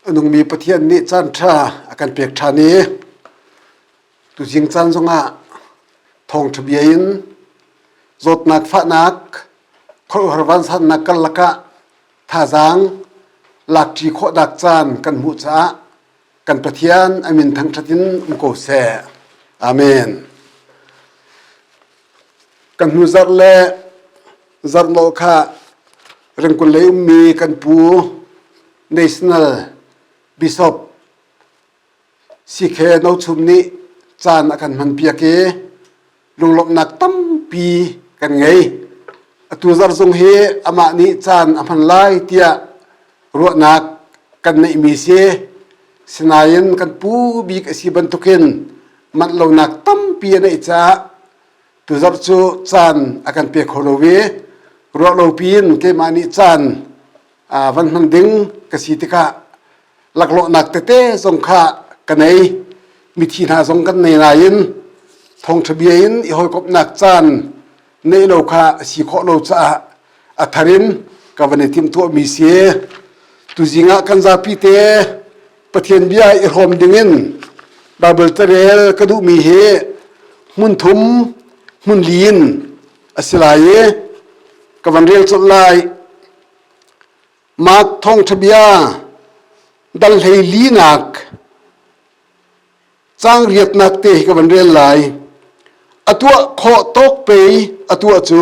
A nungmi Pathian nih caanṭha a kan pek ṭhan i tuzing caan zongah thawngṭha bia in zawtnak fahnak khuaruahhar vansannak karlak ah thazaang lakṭi khawhnak caan kan hmuh caah kan pathian amin thangthat in um ko seh amen kan hnu zarh le zarh lo kha rengkun lei ummi kan pu national bishop ck no chum nih caan a kan hman piak i lunglawmhnak tampi kan ngei atu zarh zung hi amah nih caan a hman lai tiah ruahnak kan neihmi si sinain kan pu bik a si bantukin manh lonak tampi a neih caah tu zarh cu caan a kan pe kho lo i ruah lo piin keimah nih caan van hman ding ka si tikah laklawhnak tete zong kha ka nei mithi hna zong kan nei nain thawngṭha bia in i hawikomhnak caan neih lo kha si khawh lo caah a thar in ka van i timhtuah mi si tuzing ah kan zapi te pathian bia i hrawm dingin bible tarel ka duh mi hi hmun thum hmun li in a si lai i ka van rel colh lai Mark thawngṭhabia dang hleilinak caang riatnak te hi ka van rel lai. A tuah khawh tawk pe a tuah cu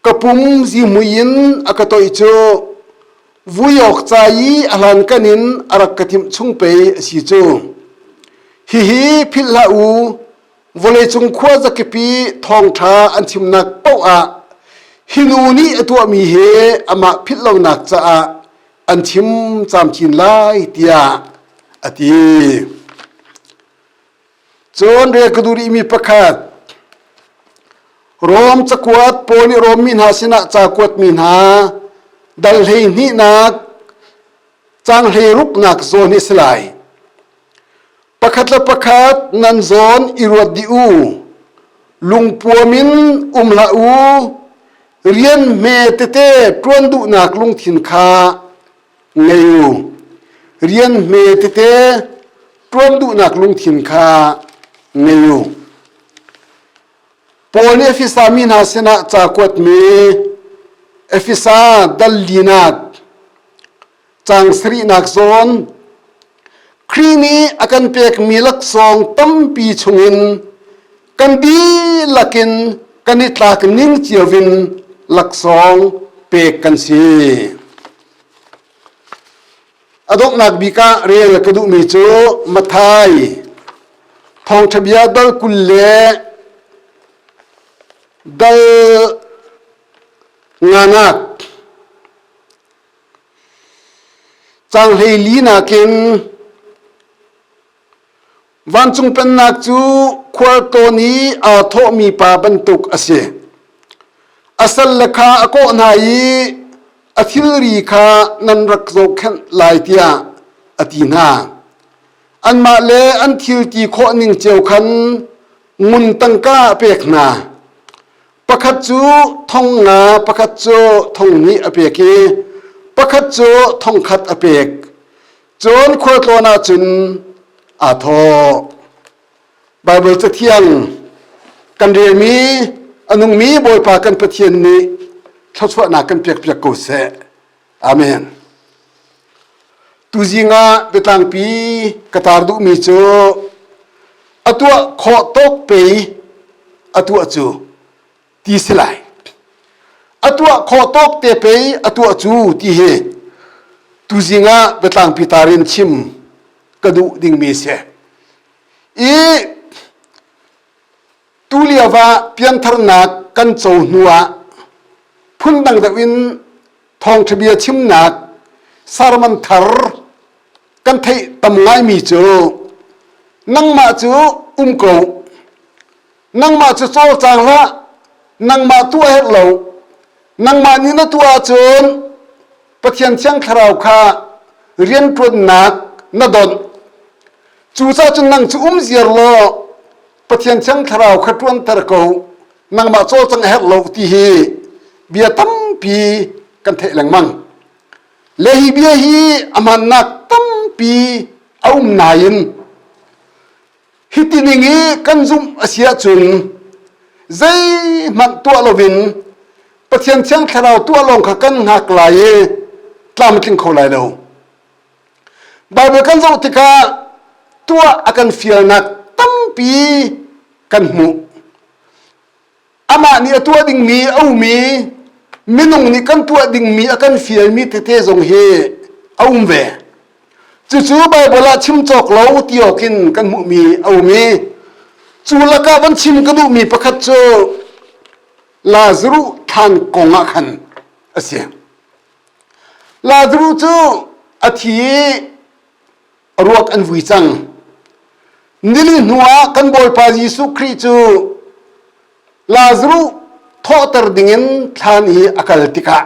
ka pum zihmui in a ka toih cu vui awk ca i a hlan kan in a rak ka timh chung pe a si cu. Hihi philh hlah u, vawleicung khua zakipi thawngṭha an chimnak paoh ah hi nu nih a tuahmi hi amah philh lonak caah an chim camcin lai tiah a ti. Cun rel ka duh rihmi pakhat Rom cakuat pawl nih Rom mi hna sinah cakuat mi hna dal hlei hnihnak cang hlei ruknak zawn hi si lai. pakhat le pakhat nan zawn i ruat dih u lungpuam in um hlah u rian hme tete ṭuan duhnak lungthin kha ngei u rian hme tete ṭuan duhnak lungthin kha ngei u Paul nih Efesa mi hna sinah ca kuatmi Efesa dal linat Caang sarihnak zawn Khrih nih a kan pekmi laksawng tampi chungin kan dihlak in kan i tlak ning cio in laksawng pek kan si. A donghnak bik ah rel ka duhmi cu Mathai thawngṭhabia dal kul le dal nganak Cang hlei li nakin vancung pennak cu khualtlawn i aa thawhmi pa bantuk a si. A salle kha a kawh hna i a thilri kha nan rak zohkhenh lai tiah a ti hna. Anmah le an thil ti khawh ning cio khan ngun tangka a pek hna. Pakhat cu thong nga, pakhat cu thong hnih a pek i pakhat cu thong khat a pek. Cun khualtlawn ah cun aa thawh. Baibal cathiang kan relmi a nungmi Bawipa kan Pathian nih thluachuahnak kan pekpiak ko seh. Amen. Tuzing ah biatlangpi ka tar duhmi cu a tuah khawh tuk pe a tuah cu ti si lai. A tuah khawh tuk te pe a tuah cu ti hi tuzing ah biatlangpi tar in chim ka duh dingmi si. I Tulio ah piantharnak kan co hnu ah phundang deuh in thawngṭha bia chimnak sermon thar kan theih tam ngaimi cu nangmah cu um ko nangmah cu cawlcang hlah nangmah tu a herh lo nangmah nih na tuah ahcun Pathian Thiang Thlarau kha rianṭuannak na donh cucacun nang cu um ziar law Pathian thiang thlarau kha ṭuanter ko nangmah cawlcang a herh lo ti hi bia tampi kan theih lengmang le hi bia hi a mannak tampi a um nain hi tining i kan zumh a si ahcun zeihmanh tuah lovin Pathian thiang thlarau tuah lawng kha kan hngak lai i tlamtling kho lai lo Baibal kan zoh tikah tuah a kan fialnak tampi kan hmuh. Amah nih a tuah dingmi a ummi minung nih kan tuah dingmi a kan fialmi tete zong hi a um ve. Cucu Baibal ah chim cawk lo ti awk in kan hmuhmi a um i cu lakah van chim ka duhmi pakhat cu Lazaruh thlan kong ah khan a si. Lazarus cu a thi i ruak an vui cang. Nilin hnuah kan Bawipa Jesuh Khrih cu Lazarus thawhter dingin thlan hi a kal tikah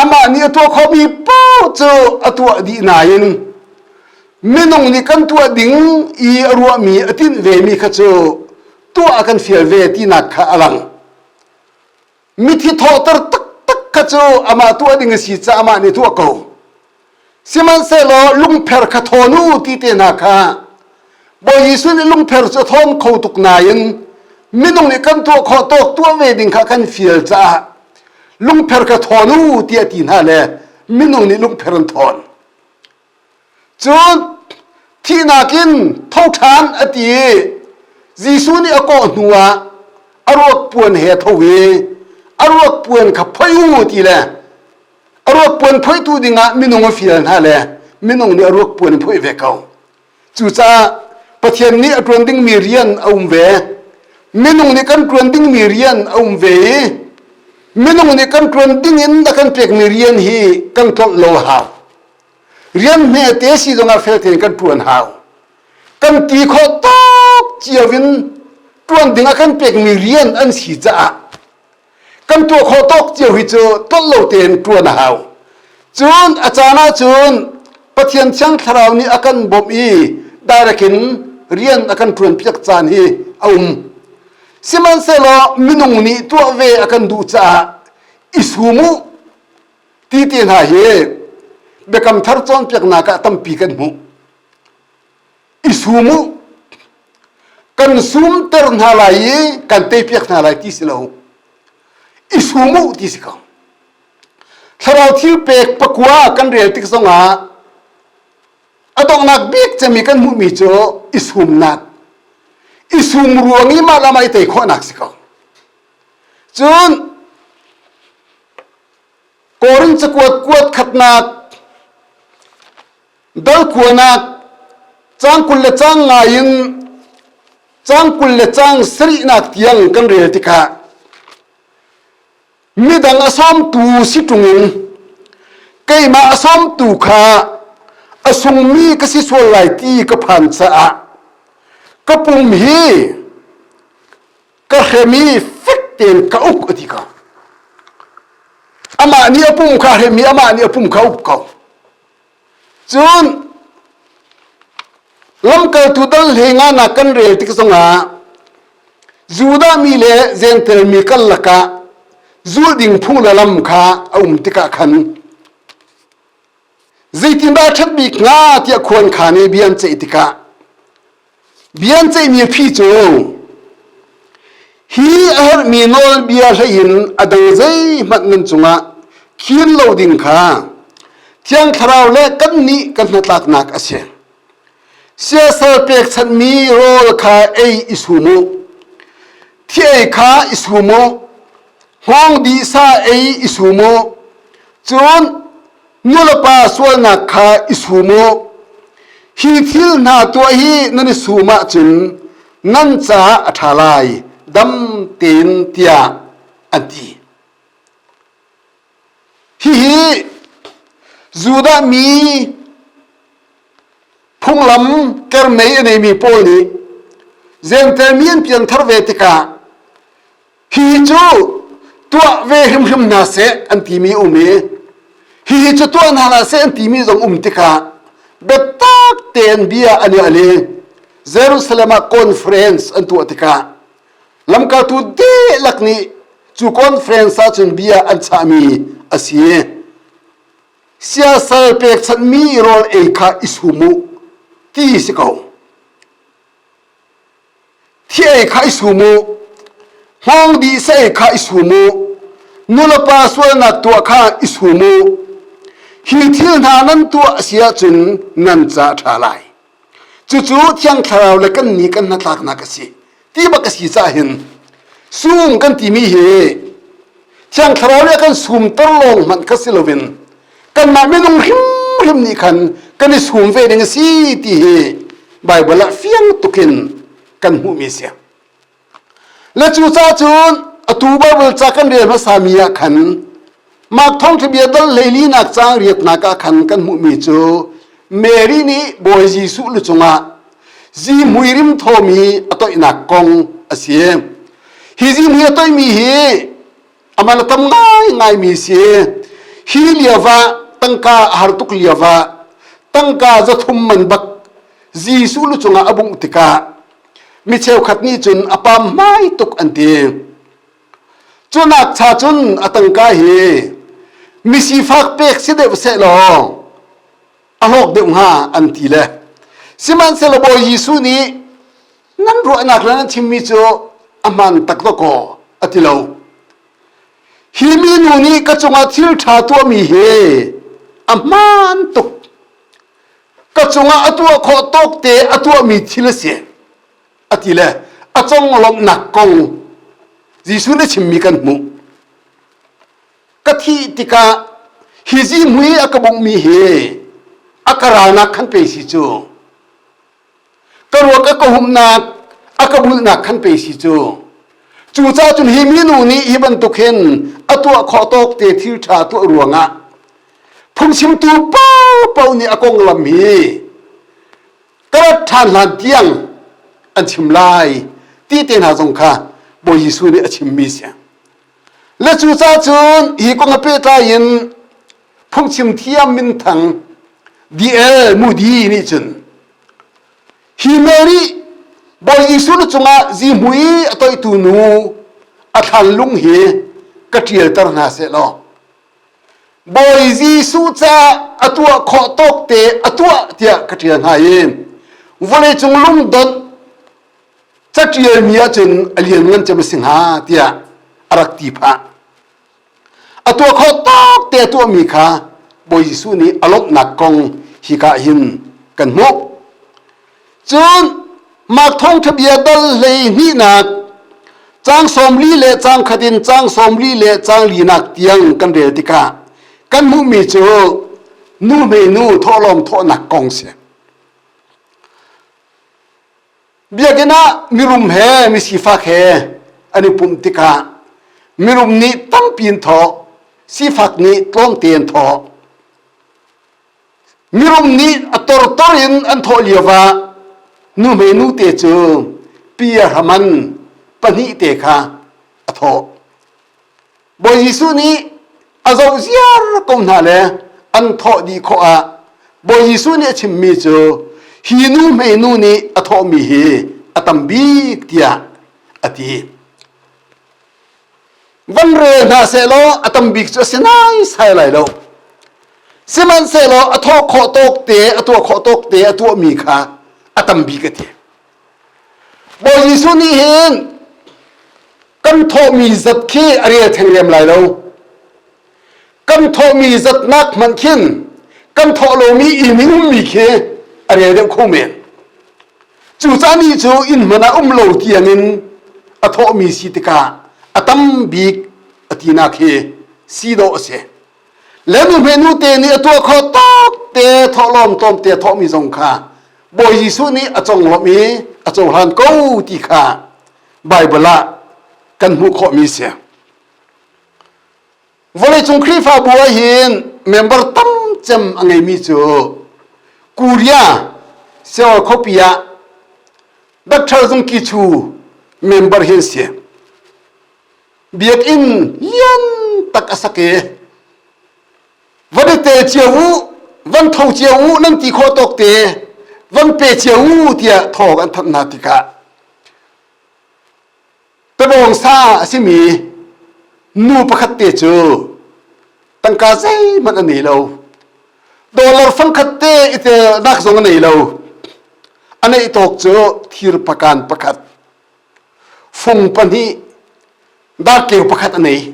amah nih a tuah khomi paoh cu a tuah dih nain minung nih kan tuah ding i a ruahmi a tinh vemi kha cu tuah a kan fial ve tinak kha a lang. mithi thawhter taktak kha cu amah tu a ding a si caah amah nih tu a ko sihmanhsehlaw lungpher kha thawn u ti te hna kha bawi Jesuh nih lungpher cu thawm kho tuk nain minung nih kan tuah khawh tawk tuah ve ding kha kan fial caah lungpher kha thawn u ti a ti hna le minung nih lungpher an thawn Cun thihnak in tho ṭhan a ti i Jesuh nih a kawh hnuah a ruakpuan he a tho i a ruakpuan kha phoi u ti le a ruakpuan phoitu dingah minung a fial hna le minung nih a ruakpuan in phoih ve ko. Cucaah Pathian nih a ṭuan dingmi rian a um ve. Minung nih kan ṭuan dingmi rian a um ve i minung nih kan ṭuan ding in a kan pekmi rian hi kan tlolh lo hau. rian hmete si zongah fel tein kan ṭuan hau kan ti khawh tuk cio in ṭuan dingah kan pekmi rian an si caah kan tuah khawh tuk cio hi cu tolh lo tein ṭuan a hau cun a caan ahcun Pathian thiang thlarau nih a kan bawmh i direct in rian a kan ṭuan piak caan hi a um sihmanhsehlaw minung nih tuah ve a kan duh caah i sum u ti te hna hi biakam thar cawnpiaknak ah tampi kan hmuh i sum u kan sumter hna lai i kan teipiak hna lai ti si lo i sum u ti si ko thlarau thil pek pakua kan rel tik zongah a donghnak bik cemi kan hmuhmi cu i sumnak i sum ruang i mah lamai tei khawhnak si ko cun Korin cakuat kuat khatnak dal kuanak cang kul le cang ngai in cang kul le cang sarihnak tiang kan rel tikah midang a sawmtu si ṭung in keimah a sawmtu kha a sungmi ka si sual lai ti ka phan caah ka pum hi ka hrem i fek tein ka uk a ti ka amah nih a pum kha hrem i amah nih a pum kha uk ko cun lamkaltu dal he nga na kan rel tik zongah judah mi le jentail mi kal lakah zul ding phung le lam kha a um tikah khan zeitindah ṭhat bik hnga tiah khuankhan i bia an ceih tikah bia an ceihmi phi cu hi a herhmi nawlbia hleiin a dang zeihmanh nan cungah khin lo ding kha thiang thlarau le kannih kan hnatlaknak a si siasal pekchanhmi rawl kha ei i sum u thi ei kha i sum u Hngawngdihsa ei i sum u, cun nulepa sualnak kha i sum u. Hi thil hna tuah hi nan i sum ahcun nan caah a ṭha lai, dam tein tiah an ti. Hihi Judah mi phunglam kermei a neimi pawl nih Jentail mi an piangthar ve tikah hi cu tuah ve hrimhrim hna seh an timi um i hihi cu tuah hna la seh an timi zong um tikah biatak tein bia an i al i Jerusalem ah conference an tuah tikah lamkaltu dihlak nih cu conference ah cun bia an chahmi a si siasal pekchanhmi rawl ei kha i sum u ti si ko Thi ei kha i sum u, hmong di sei kha i sum u, nulepa sualnak tuah kha i sum u. Hi thil hna nan tuah a si ahcun nan ca a ṭha lai. Cucu Thiang Thlarau le kan ni kan hnatlaknak a si ti bak a si caah hin sum kan timi hi Thiang Thlarau le a kan sumter lawng hmanh kha si loin kanmah minung hrimhrim nih khan kan i sum ve ding a si ti hi Baibal ah fiang tukin kan hmuhmi a si. Le cu ca cun atu Baibal ca kan rel hmasami ah khan Mark thawngthabia dal leilinak cang riatnak ah khan kan hmuhmi cu Mary nih Bawi Jesuh lu cungah zihmui rim thomi a toihnak kong a si. Hi zihmui a toihmi hi aman a tam ngaingai mi si hi liava tangka a har tuk liava tangka za thum man bak jesu lu cunga a bungh tikah mi cheukhat nih cun a pam mai tuk an ti cunak cha cun a tangka hi misifak pek si deuh se law a hlawk deuh hnga an ti le sihmanhsehlaw bawi jesuh nih nan ruahnak le nan chimmi cu a hmaan tak lo kaw a ti lo hi minu nih ka cungah thil ṭha tuahmi hi a hmaan tuk ka cungah a tuah khawh tawk te a tuahmi thil a si a ti le a conglawmhnak kong Jesuh nih chimmi kan hmuh ka thih tikah hi zihmui a ka bungmi hi a ka ralnak khan pe si cu ka ruak a ka humnak a ka bulhnak khan pe si cu cucah cun hi minu nih hi bantuk hin a tuah khawh tawk te thil ṭha tuah ruangah phungchimtu popo nih a konglam hi ka rat ṭhan hlan tiang an chim lai ti te hna zong kha Bawi Jesuh nih a chimmi si le cucah cun hi kong a pehtlai in Thokching thiam minthang DL Mudi nih cun hi mel nih Bawi Jesuh nu cungah zihmui a toitu nu a thlanlung hi ka ṭialter hna seh law Bawi Jesuh ca a tuah khawh tawk te a tuah tiah ka ṭial hna i vawleicung lungdonh caṭialmi ahcun a lianngan cem a si hnga tiah a rak ti phah. a tuah kho tak te a tuahmi kha Bawi Jesuh nih a lawmhnak kong hika hin kan hmuh cun Mark thawngṭha bia dal hlei hnihnak cang sawmli le cang khat in cang sawmli le cang linak tiang kan rel tikah kan hmuhmi cu nu hme nu thawhlawm thawhnak kong si Biakinn ah mirum he misifak he an i pumh tikah mirum nih tampi in thawh, sifak nih tlawmte an thawh. Mirum nih a tortor in an thawh lio ah nuhme nu te cu pi a hraman pahnih te kha a thawh. Bawi Jesuh nih a zo ziar ko hna le an thawh dih khawh ah Bawi Jesuh nih a chimmi cu hi nu hmeinu nih a thawhmi hi a tam bik tiah a ti. Van rel hna sehlaw a tam bik cu a si naisai lai lo. Sihmanhsehlaw a thawh khawh tawk te, a tuah khawh tawk te, a tuahmi kha a tam bik a ti. Bawi Jesuh nih hin kan thawhmi zat khi a rel theng lem lai lo kan thawhmi zatnak hmanh khin kan thawh lomi ining ummi khi a rel deuh kho men cucah ni cu inn hman a um lo tiangin a thawhmi si tikah a tam bik a tinak hi si dawh a si le nuhme nu te nih a tuah kho tok te thawhlawm tlawm te thawhmi zong kha Bawi Jesuh nih a conglawmh i a cohlan ko ti kha Baibal ah kan hmuh khawhmi si. Vawleicung Khrihfabu ah hin member tam cem a ngeimi cu Korea Seoul khuapi ah Dr. Zung Kichu member hin si. Biakinn lian tak a sak i va dete cia u van tho cia u nan ti khawh tawk te van pe cia u tiah thawg an thanh hna tikah Tabawngsa a simi nu pakhat te cu tangka zeihmanh a nei lo. Dollar fangkhat te itelnak zong a nei lo. A neih tawk cu thir pakan pakhat, fung pahnih, dak keu pakhat a nei.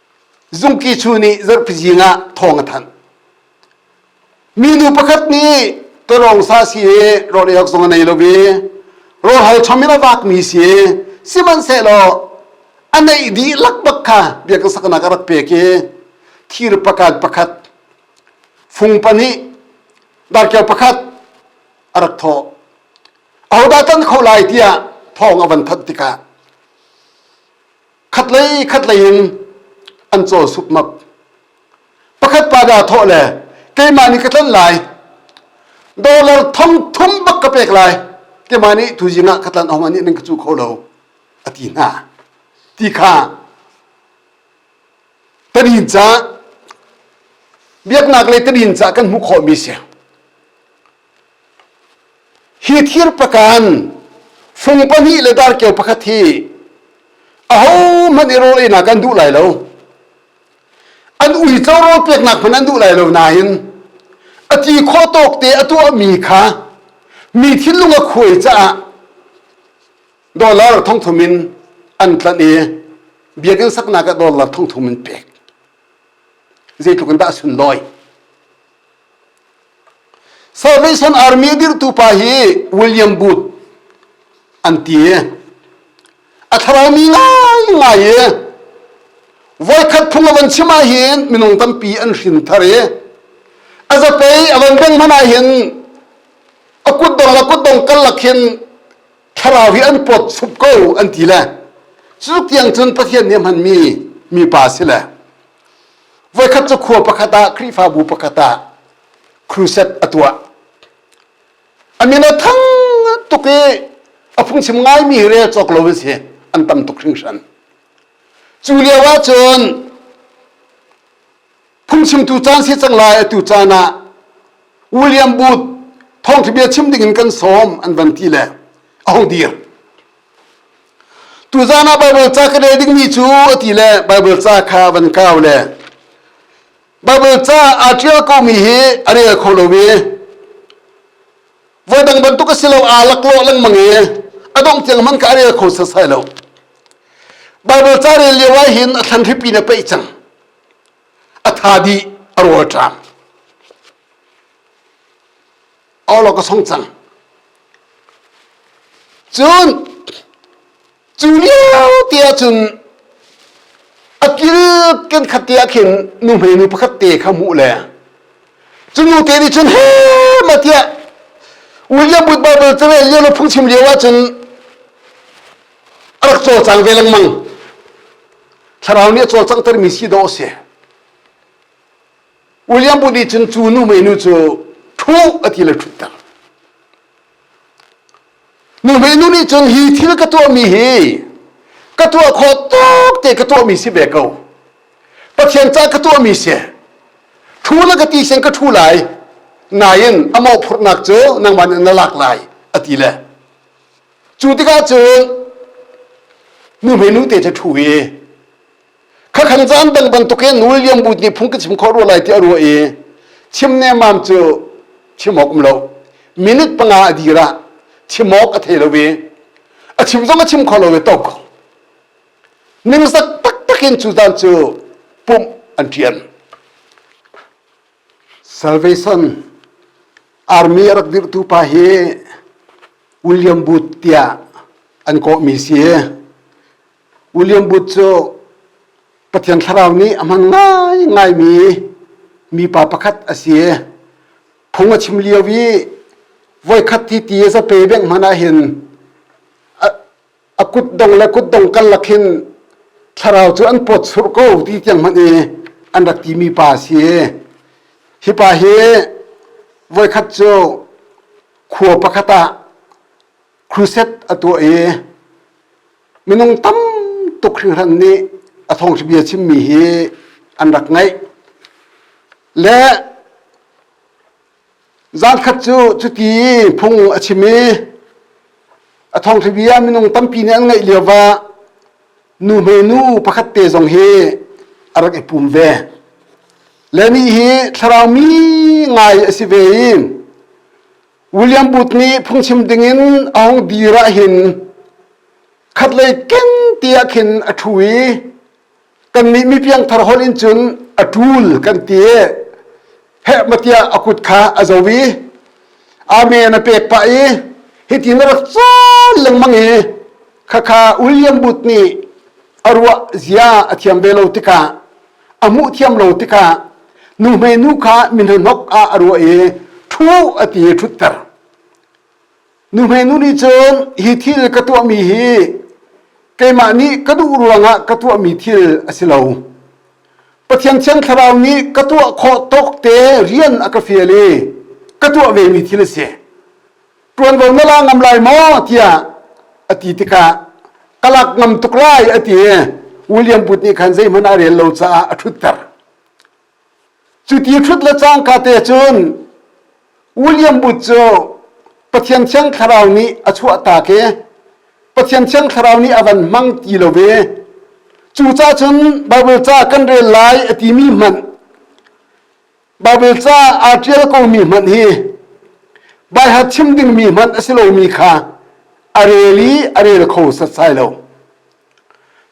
Zungki chu nih zarhpi zing ah thawng a thanh. Minu pakhat nih tolawng sa si hi rawl eiawk zong a nei lo i rawlhal chom in a vakmi si sihmanhsehlaw a neih dih lakbak kha biakinn saknak a rak pek i thir pakhat pakhat fung pahnih darkeu pakhat a rak thawh ahodah tan kho lai tiah thawng a van thanh tikah khatlei khatlei in an cawl supmap pakhat pa da thawh le keimah nih ka tlanh lai dollar thong thum bak ka pek lai keimah nih tuzing ah ka tlanh hong anih nan ka cu kho lo a ti hna ti kha tanin ca biaknak le tanin ca kan hmuh khawh mi si hi thir pakan fung pahnih le darkeu pakhat hi ahohmanh i rawleinak an duh lai lo an uico rawl peknak hmanh an duh lai lo nain a ti khawh tawk te a tuahmi kha mi thinlung a khuai caah dollar thongthum in an tlanh i biakinn saknak ah dollar thongthum in pek zeitluk in dah a sunlawi Salvation Army dirhtu pa hi William Booth an ti a thlaraumi ngaingai i voikhat phung a van chim ahhin minung tampi an hrin thar i a zapei a van beng hman ahhin a kutdong le kutdong kallak hin thlarau hi an pawt sup ko an ti le cu tiang cun Pathian nih a hmanmi mipa si le voikhat cu khua pakhat ah khrihfabu pakhat ah crusade a tuah a min a thang tuk i a phungchim ngaimi rel cawk lo in si an tam tuk hringhran cu lio ahcun phungchimtu caan si cang lai atu caan ah william booth thawngthabia chim ding in kan sawm an van ti le a hong dir Tuzan ah Baibal ca ka deh dingmi cu a ti le Baibal ca kha van kau le Baibal ca aa ṭial komi hi a rel kho lo i voi dang bantuk a si lo aa laklawh lengmang i a dongh tiang hmanh ka a rel kho setsai lo. Baibal ca rel lio ah hin a thlan hripi na peih cang. A tha dih a rawl ṭam. awlo ka song cang cun cu lio te ahcun a kil kan khat te ah khin nuhmei nu pakhat te kha hmuh le cunu te nih cun he ma tiah william bud bible came lio lo phung chim lio ahcun a rak caw cang ve lengmang thlarau nih a cawlcanghtermi si dawh a si William bu nih cun cu nu menu cu thuh a ti le thutter. Nu menu nih cun hi thil ka tuahmi hi ka tuah khawh tuk te ka tuahmi si ve ko. Pathian ca ka tuahmi si. Thu na ka ti sen ka thu lai. Nain a mawhphurhnak cu nangman in na lak lai a ti le. Cu tikah cun nu menu te cu thu i khakhang caan dang bantuk in nul liang bu ni phung ka chim khawh rua lai ti a rua i chim ne mam cu chimawk um lo minute panga a dira chimawk a thei lo ve a chim zong a chim kho lo ve tok ningsak tak takin cu dan cu pum an tian salvation army a rak dirtu pa hi william booth tiah an kawh mi si William Booth cu Pathian Thlarau nih a hman ngaingaimi mipa pakhat a si. Phung a chim lio i voikhat hi ti a zape beng hmanh ah hin a kutdong le kutdong karlak hin thlarau cu an pawt sur ko ti tiang hmanh i an rak timi pa a si. Hi pa hi voikhat cu khua pakhat ah crusade a tuah i Minung tam tuk hringhran nih a thawngṭhabia chimmi hi an rak ngaih. Le zankhat cu cuti phung a chim i a thawngṭhabia minung tampi nih an ngaih lio ah nu hmenu pakhat te zong hi a rak i pum ve. Le nih hi thlarau mi ngai a si ve i William Booth nih phungchim dingin Aung Dir ah hin khatlei keng tiah khin a ṭhu i kannih mi piangthar holh in cun a ṭul kan ti i heh matiah a kut kha a zo i amen a pek pah i hitin a rak cawl lengmang i khakha William Booth nih a ruah zia a thiam ve lo tikah a muh thiam lo tikah nuhmei nu kha minhonok ah a ruah i ṭhu a ti i ṭhutter nuhmei nu nih cun hi thil ka tuahmi hi keimah nih ka duh ruangah ka tuahmi thil a si lo Pathian thian thlarau nih ka tuah khawh tawk te rian a ka fial i ka tuah vemi thil a si ṭuanvo na la ngam lai maw tiah a ti tikah ka lak ngam tuk lai a ti William Booth nih khan zeihmanh a rel lo caah a ṭhutter cuti hrut le cang ka te cun William Booth cu Pathian thiang thlarau nih a chuahta ke Pathian thiang thlarau nih a van hmang ti lo ve cucah cun Bible ca kan rel lai a timi hmanh Baibal ca aa ṭial komi hmanh hi baiha chim dingmi hmanh a si lomi kha a rel i a rel kho setsai lo.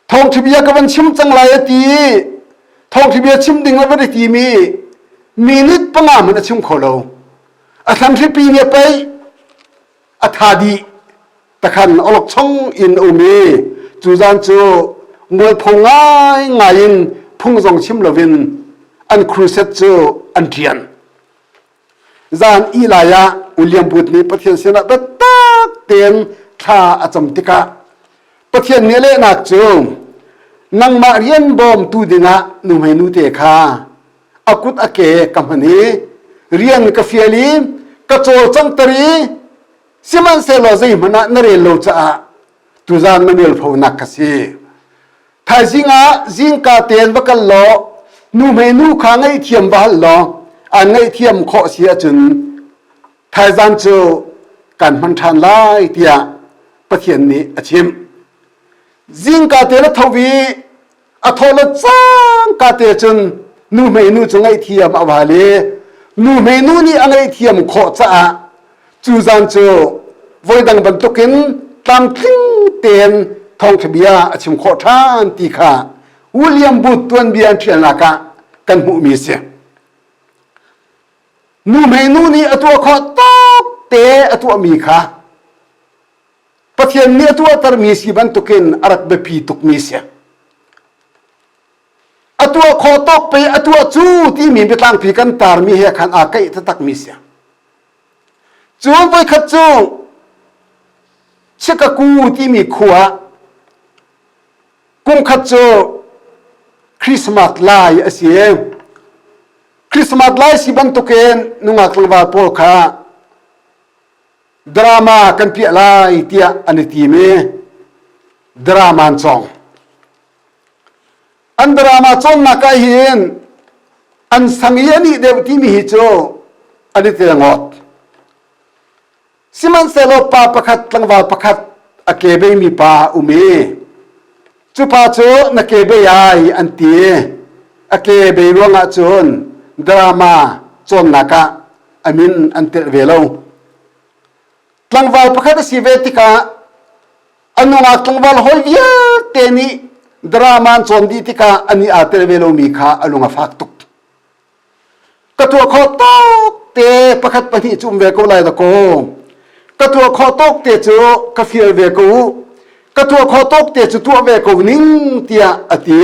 Thawngṭhabia ka van chim cang lai a ti i thawngṭhabia chim ding a van i timi minute panga hmanh a chim kho lo. A thlanhripi nih a pei a tha dih takhan olokchong in um i cu zan cu mualpho ngai ngai in phung zong chim loin an crusade cu an ṭian zan i lai ah William Booth nih Pathian sinah biatak tein thla a cam tikah Pathian nih a lehnak cu nangmah rian bawmtu dingah nuhmeinu te kha a kut a ke ka hman i rian ka fial i ka cawlcang tar i sihmanhsehlaw zei hmanh ah na rel lo caah tuzan na rel fo nak ka si thaizing ah zingka ten va kal law nu hmei nu kha ngaihthiam va hal law an ngaihthiam khawh si ahcun thaizan cu kan hman ṭhan lai tiah pathian nih a chim zingka te na tho i a thawlot cang ka te cun nu meinu cu ngaihthiam a wal i nu meinu nih a ngaihthiam khawh caah cu zan cu voidang bantukin tlamtling tein thawngthabia a chim khawh ṭhan ti kha William Booth tuanbia an ṭhialnak ah kan hmuhmi a si. Nu meinu nih a tuah khawh tuk te a tuahmi kha Pathian nih a tuahtermi si bantukin a rak biapi tukmi si. A tuah kho tok pe a tuah cu timi biatlangpi kan tarmi he khan aa kaih takmi si. Cun voikhat cu Chikaku timi khua kumkhat cu Christmas lai a si. Christmas lai si bantukin nungak tlangval pawl kha drama kan piah lai tiah an i tim i drama an cawng an drama cawnnak ah hin an sang i an ih deuh timi hi cu an i tel ngot sihmanhsehlaw pa pakhat tlangval pakhat a kebei mi pa a um i Cupa cu na kebe ai an ti. A kebe ruangah cun drama cawnnak ah a min an telh ve lo. Tlangval pakhat a si ve tikah a nungak tlangval hawi vialte nih drama an cawn dih tikah an i aa tel ve lomi kha a lung a fak tuk. ka tuah khawh tawk te pakhat pahnih cu um ve ko lai da kaw ka tuah khawh tawk te cu ka fial ve ko ka tuah khawh tawk te cu tuah ve ko ning tiah a ti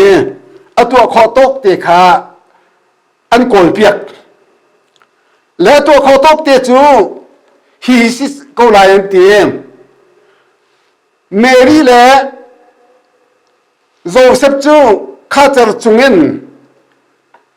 a tuah khawh tawk te kha an kawl piak le tuah khawh tawk te cu hi si ko lai an ti Mary le Joseph cu khacer chungin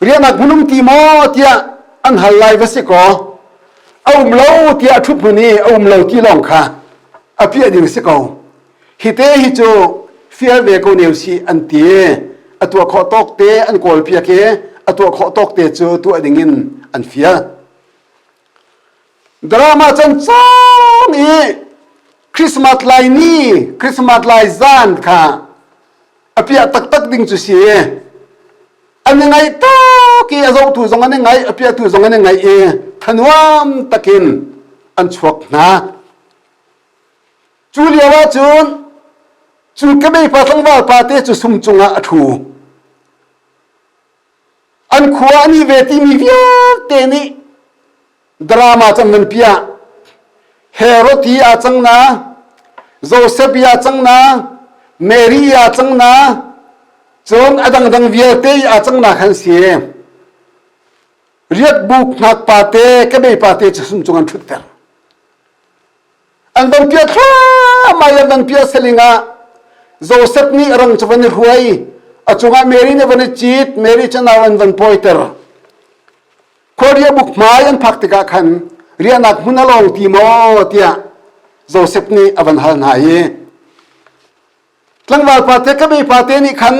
rianak hmunum ti maw tiah an hal lai va si kaw a um lo tiah thup hmun i a um lo ti lawng kha a piah ding si ko hi te hi cu fear ve ko neu si an ti a tuah khawh tawk te an kawl pia ke a tuah khawh tawk te cu tuah ding in an fia drama cancam i christmas lai ni christmas lai zan kha apiah taktak ding cu si an i ngaih tak i a zohtu zong an i ngaih apiahtu zong an i ngaih i thanuam takin an chuak hna cu lio ahcun cu kebei pa tlangval pa te cu sum cungah a ṭhu an khua an i ve timi vialte nih drama cang nan piah Herod hi a cang na Joseph ya cang na Mary ya cang na cun a dangdang vialte a cang na khan si riat buk ngak pa te ke be pa te cu sum cung an thut ter an dong pia thlamai an dang pia seling ah Joseph nih rang cu van i ruai a cungah Mary nih van i cit Mary cu nau an van poiter khuaria buk hmai an phak tikah khan riahnak hmun a lawng ti maw tiah Joseph nih a van hal hna i tlangval pate ka be pate nih khan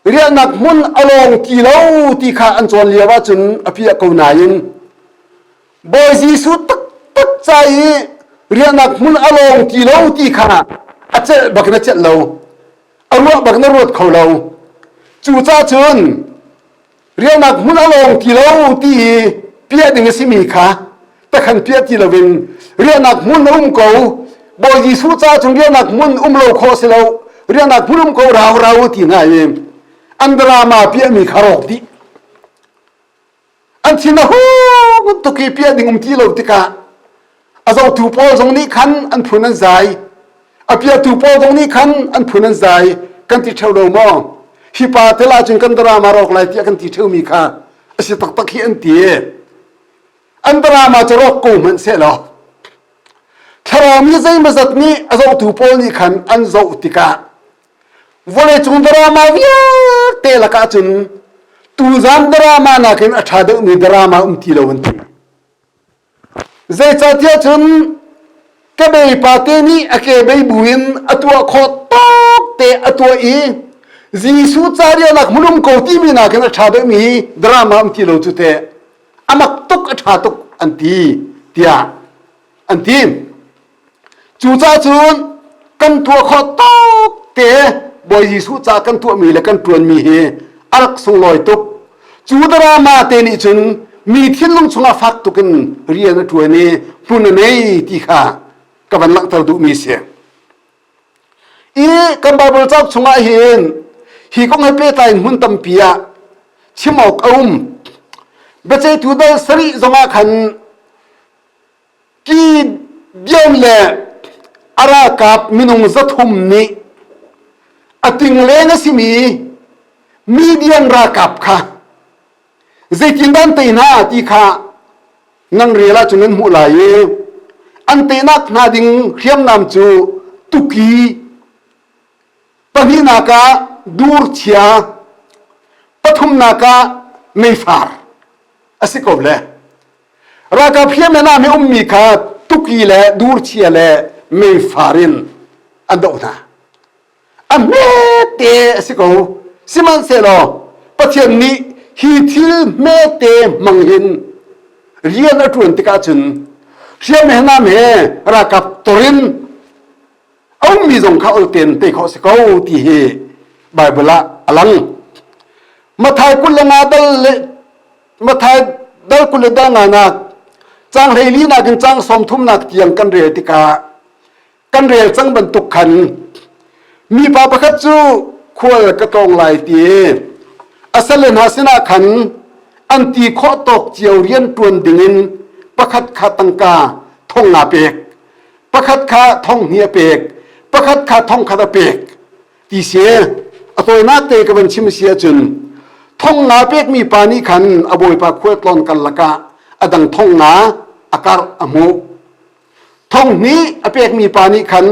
rialnak hmun a lawng ti lo ti kha an cawn lio ahcun a piah ko nain Bawi Jesuh taktak ca i rialnak hmun a lawng ti lo ti kha a celh bak in a celh lo a ruah bak in a ruat kho lo cucahcun rialnak hmun a lawng ti lo ti i piah ding a simi kha takhan piah ti loin rialnak hmun a um ko Bawi Jesuh ca chung rialnak hmun um lo kho si lo rialnak hmun um ko rau rau ti ngai i an drama piahmi kha rawk dih an thin a hu tuk i piah ding um ti lo tikah a zotu pawl zong nih khan an phun an zai a piatu pawl zong nih khan an phun an zai kan ti theo lo maw hi pa tel ahcun kan drama rawk lai tiah kan ti theo mi kha a si taktak hi an ti an drama cu rawk ko hmanh se law thlarau mi zeimazat nih a zotu pawl nih khan an zoh tikah vawlei cung drama vialte lakah cun tuzan drama nakin a ṭha deuhmi drama um ti lo an ti Zeicahtiah cun ka beipa te nih a kebei buin a tuah khawh tuk te a tuah i Jesuh ca rialnak hmunum ko timi nakin a ṭha deuhmi drama um ti lo cu teh a mak tuk a ṭha tuk an ti tiah an ti. Cucacun kan tuah khawh tuk te Bawi Jesuh ca kan tuahmi le kan ṭuanmi hi a rak sunglawi tuk. Cu drama te nih cun mi thinlung chungah fak tukin rian a ṭuan i hmun a nei ti kha ka van langhter duhmi a si. I kan Baibal cauk chungah hin hi kong he pehtlai hmun tampi ah chim awk a um. Biaceihtu dal sarih zongah khan Gideon le a ralkap minung zathum nih a tingle na simi Midian ralkap kha zeitin dan te hna ti kha ngang rial ah cun an hmuh lai i an teinak hna ding hriamnam cu tuki pahnihnak ah durchia pathumnak ah meifar a si ko le ralkap hriamngan ah mi ummi kha tuki le durchia le meifar in an doh hna a hmete a si ko sihmanhsehlaw pathian nih hi thil hmete hmang hin rian a ṭuan tikah cun hriamngan he ralkap torin a ummi zong kha ulten te khawh si ko ti hi Baibal ah a lang Mathai kul le nga dal le Matthai dal kul le dal nga nak cang hlei li nak in cang som thum nak tiang kan rel tikah kan rel cang bantuk khan mi pa pakhat cu khual ka tlawng lai ti asale hna sinah khan an ti khawh tawk cio rian tuan dingin pakhat kha tangka thong nga pek pakhat kha thong hnia pek pakhat kha thong khat a pek ti si a tawinak te ka van chim si ahcun thong nga pekmi pa nih khan a bawipa khua tlon kal lakah a dang thong nga a karh a hmuh thong hnih a pekmi pa nih khan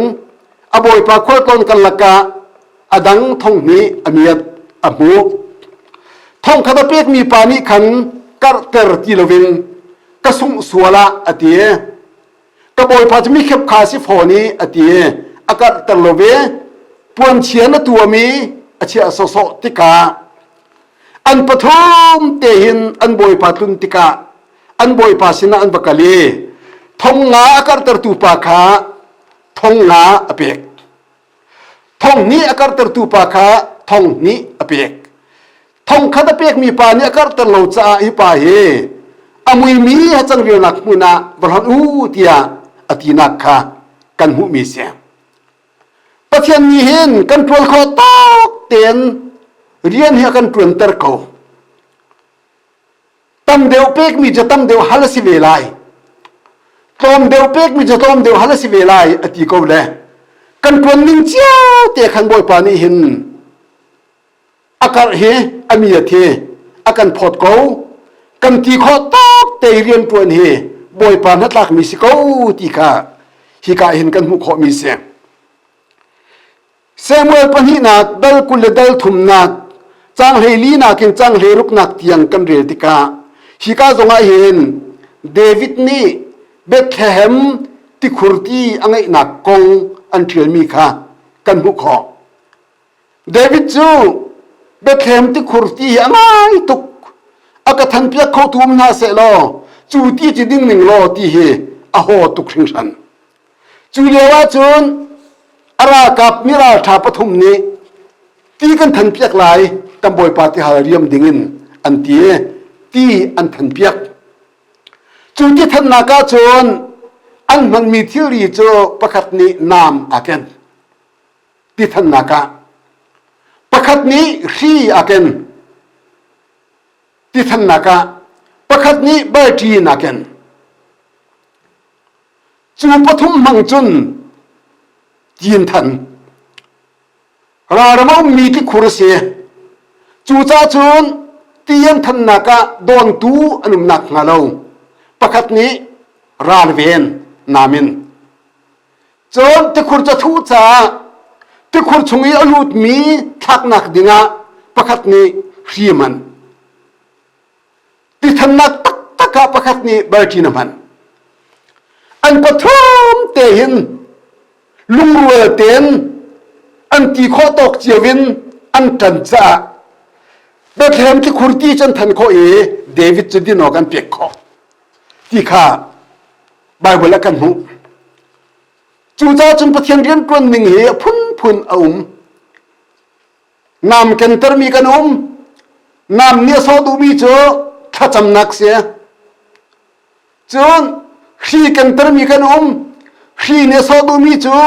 a bawipa khua tlon kal lakah a dang thong hnih a miat a hmuh thong khat a pekmi pa nih khan karhter ti loin ka sungh sual ah a ti ka bawipa cu mi khep kha si fawn i a ti a karhter lo ve puanchia na tuami a chia sawsawh tikah an pathum te hin an bawipa tlun tikah an bawipa sinah an va kal i thong nga a karhtertu pa kha thong nga a pek thong nih a karhtertu pa kha thong nih a pek thong khat a pekmi pa nih a karhter lo caah i pa hi a muimi hacang rialnak hmun ah va hlonh u tiah a tinak kha kan hmuhmi si pathian nih hin kan ṭuan kho tak tein rian hi a kan ṭuanter ko tam deuh pekmi cu tam deuh hal a si ve lai tlawm deuh pekmi cu tlawm deuh hal a si ve lai a ti ko le kan tuan ning cio te khan bawipa nih hin a karh hi a mi a thi a kan phawt ko kan ti khawh tak te riantuan hi bawipa hnatlakmi si ko ti kha hika hin kan hmuh khawhmi si Samuel pahnihnak dal kul le dal thumnak changhlei nak in changhlei ruknak tiang kan rel tikah hika zongah hin David nih Bethlehem tikhurti a ngeihnak kong an ṭialmi kha kan hmuh khawh. David cu Bethlehem tikhurti hi a ngai tuk a ka thanpiak khotu um hna seh law cu ti ci ding ning law ti hi a haw tuk hringhran. Cu lio ahcun a ralkap mi ralṭha pathum nih ti kan than piak lai kan bawipa ti hal riam ding in an ti i ti an than piak. Cu ti thannak ahcun an hmanmi thilri cu pakhat nih naam aa ken. Ti thannak ah pakhat nih hri aa ken. Ti thannak ah pakhat nih balṭi in aa ken. cu pathum hmang cun Cin Than ralram a ummi thikhur a si cucahcun Tian thannak ah dawntu an um nak hnga lo pakhat nih ralven namin cun tikhur cu thuh caah tikhur chung i a lutmi thlaknak dingah pakhat nih hriman tithannak taktak ah pakhat nih balṭin a hman an pathum te hin lungrual tein an ti khawh tawk cio in an ṭan caah Bethlehem thikhur ti cu an than khawh i David cu din awk an pek khawh ti kha Baibal ah kan hmuh cucaah cun Pathian rianṭuan ning hi a phunphun a um Nam kentermi kan um. Nam nih a sawh duhmi cu thlacamnak si. Cun hri kentermi kan um. Hri nih a sawh duhmi cu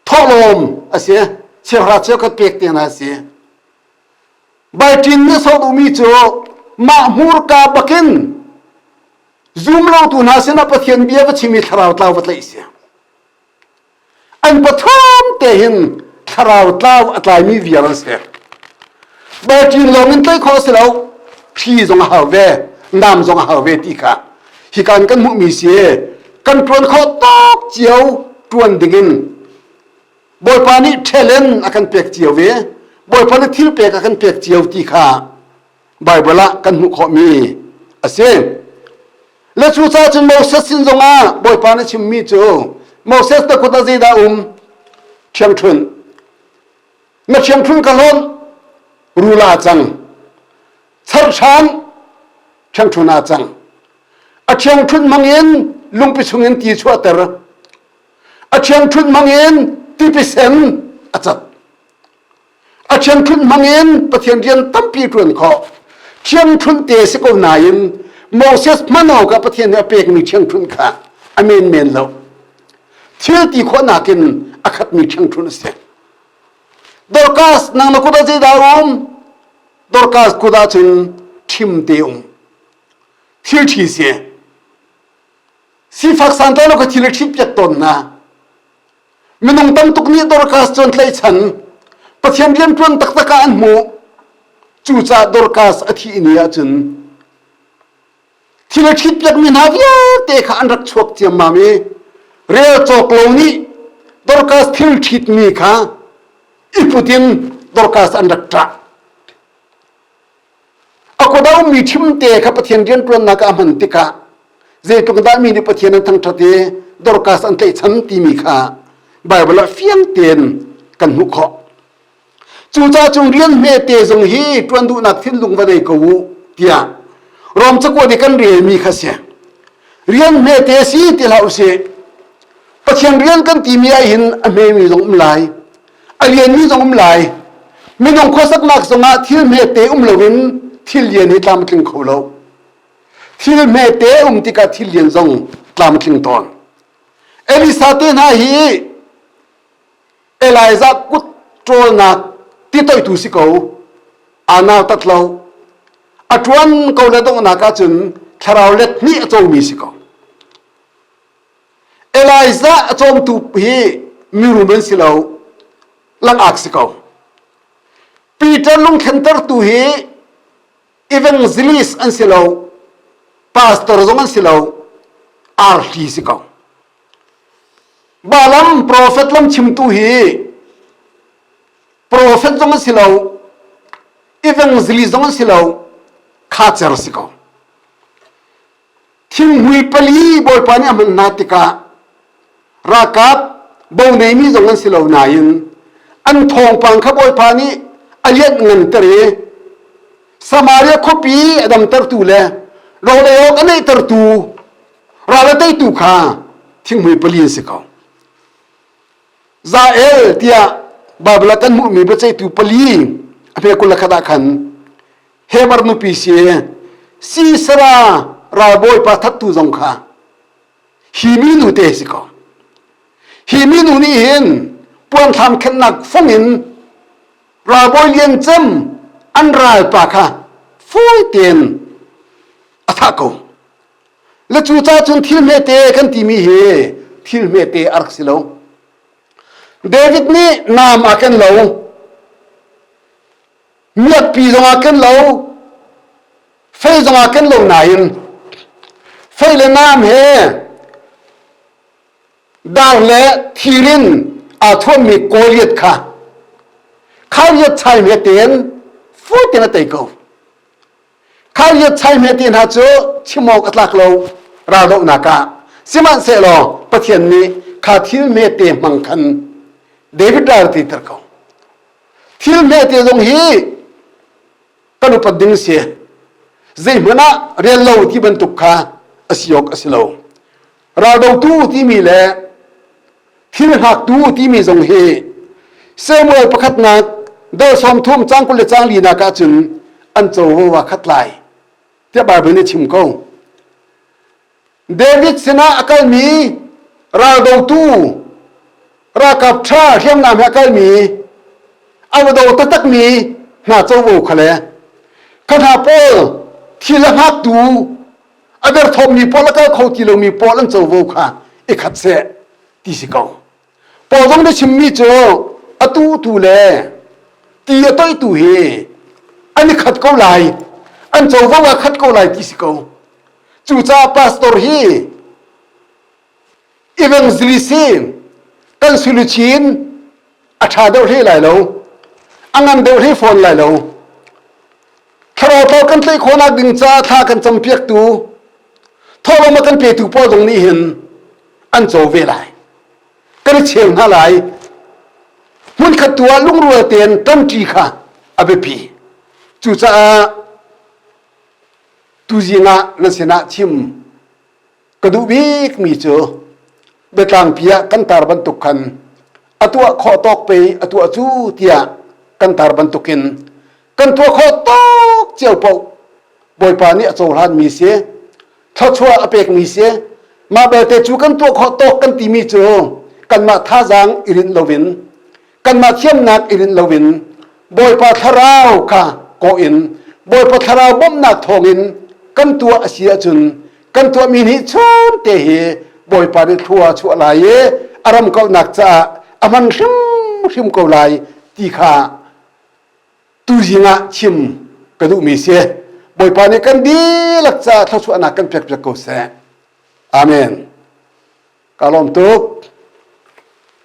thawlawm a si. Chiahra cheukhat pek tiang a si. Baltin nih a sawh duhmi cu mah hmurka bakin zum lotu hna sinah Pathian bia va chim i thlarau tlau va tlaih si. an pathum te hin thlarau tlau a tlaimi vial an si bacin lawng in tlaih khawh si lo phi zong a hau ve nam zong a hau ve ti kha hi kan kan hmuhmi si kan tuan kho tak cio tuan ding in bawipa nih ṭhelen a kan pek cio ve bawipa nih thil pek a kan pek cio ti kha Baibal ah kan hmuh khawhmi a si. Le cucaah cun Moses sin zongah Bawipa nih chimmi cu Moses na kut ah zeidah um? Ṭhiangṭhunh. Na ṭhiangṭhunh ka hlawn, rula cang. Charhram, ṭhiangṭhunh a cang. A ṭhiangṭhunh hmangin lungpi chungin ti chuahter. A ṭhiangṭhunh hmangin tipisen a cat. a thiamthunh hmangin pathian rian tampi ṭuan khawh thiamthunh te si ko nain moses hman awkah pathian nih a pekmi thiamthunh kha a menmen lo thil ti khawhnak in a khatmi thiamthunh a si dorkas nang na kut ah zeidah um dorkas kut ah cun thim te um thil thi si sifak san to na ka thil a thim piak ton na minung tam tuk nih Dorcas cu an tlaihchan Pathian rianṭuan taktak ah an hmuh cucaah Dorcas a thih ni ahcun thil a ṭhit piakmi hna vialte kha an rak chuak ciammam i rel cawk lo nih Dorcas thil ṭhitmi kha i put in Dorcas an rak ṭah a kodomi chimte kha pathian rianṭuannak ah hman tikah zeitluk dah mi nih pathian an thangṭhat i dorkas an tlaihchan timi kha Baibal ah fiang tein kan hmuh khawh cuca cung rian hmete zong hi ṭuan duhnak thinlung va nei ko u tiah Rom cakuan i kan relmi kha si rian hmete si ti hlah usih Pathian rian kan timi ah hin a hmemi zong um lai a lianmi zong um lai minung khuasaknak zongah thil hmete um loin thil lian hi tlamtling kho lo thil hmete um tikah thil lian zong tlamtling tawn elisa te hna hi elijah kut ṭawlnak ti toitu si ko anau tat lo a ṭuan ko le donghnak ahcun thlarau let nih a comi si ko Elijah a cawmtu hi mirum an si lo langak si ko Peter lungthlentertu hi evangelist an si lo pastor zong an si lo arhli si ko balam prophet lam chimtu hi prophet zong an si lo evangelist zong an si lo khacer si ko Thinghui pali Bawipa nih a hman hna tikah ralkap boneimi zong an si lo nain an thawngpang kha Bawipa nih a lianh nganter i Samaria khuapi a damtertu le rawlei awk a neihtertu ral a teitu kha thinghui pali an si ko. Zael tiah Baibal kan hmuhmi biaceihtu pali a hme kul le khat ah khan Heber nupi si Sisera ralbawipa thattu zong kha hi minu te si ko hi minu nih hin puanthlam khennak fung in ralbawi lian cem an ralpa kha fawi tein a thah ko Le cu ca cun thil hmete kan timi hi thil hmete a rak si lo. David nih nam ah kan lo. Miakpi zongah kan lo. Fei zongah kan lo nain fei le nam he dar le thir in aa thuammi Goliath kha khariat chai hme tein fu tein a tei ko. Khariat chai hmete hna cu chim awk a tlak lo raldohnak ah sihmanhsehlaw Pathian nih kha thil hmete hmang khan David ral ti ter ko thil hmete zong hi kan upat ding si zeihmanh ah rel lo ti bantuk kha a si awk a si lo raldotu timi le thil hngaktu timi zong hi Samuel pakhatnak dal sawm thum cang kul le cang linak ah cun an covo khat lai tiah Bible nih chim ko David sinah a kalmi raldotu rakap ṭha hriamnam he a kalmi a va do taktakmi hna covo kha le kha hna pawl thil a hngaktu a derthawmmi pawl a kal kho ti lomi pawl an covo kha i khat seh ti si ko paul zong nih chimmi cu atu tu le ti a toitu hi an i khat ko lai an covo ah khat ko lai ti si ko cucaah pastor hi i veng zili si kan siluchin a ṭha deuh hle lai lo a ngan deuh hle fawn lai lo thlarau thar kan tlaih khawhnak ding ca thla kan campiaktu thawlawm a kan petu pawl zong nih hin an co ve lai kan i cheng hna lai hmun khat tu ah lungrual tein ṭanṭi kha a biapi cucaah tuzing ah na sinah chim ka duh bikmi cu biatlangpi ah kan tar bantuk khan a tuah khawh tawk pe a tuah cu tiah kan tar bantukin kan tuah khawh tawk cio poh bawipa nih a cohlanmi si thluachuah a pekmi si mah belte cu kan tuah khawh tawk kan timi cu kanmah thazaang i rinh loin kanmah thiamnak i rinh loin Bawipa thlarau kha kawh in Bawipa thlarau bawmhnak thawngin kan tuah a si ahcun kan tuahmi nih chunte hi Bawipa nih thlua a chuah lai i a ramkalhnak caah a hman hrimhrim ko lai ti kha tuzing ah chim ka duhmi si Bawipa nih kan dihlak caah thluachuahnak kan pekpiak ko seh amen ka lawm tuk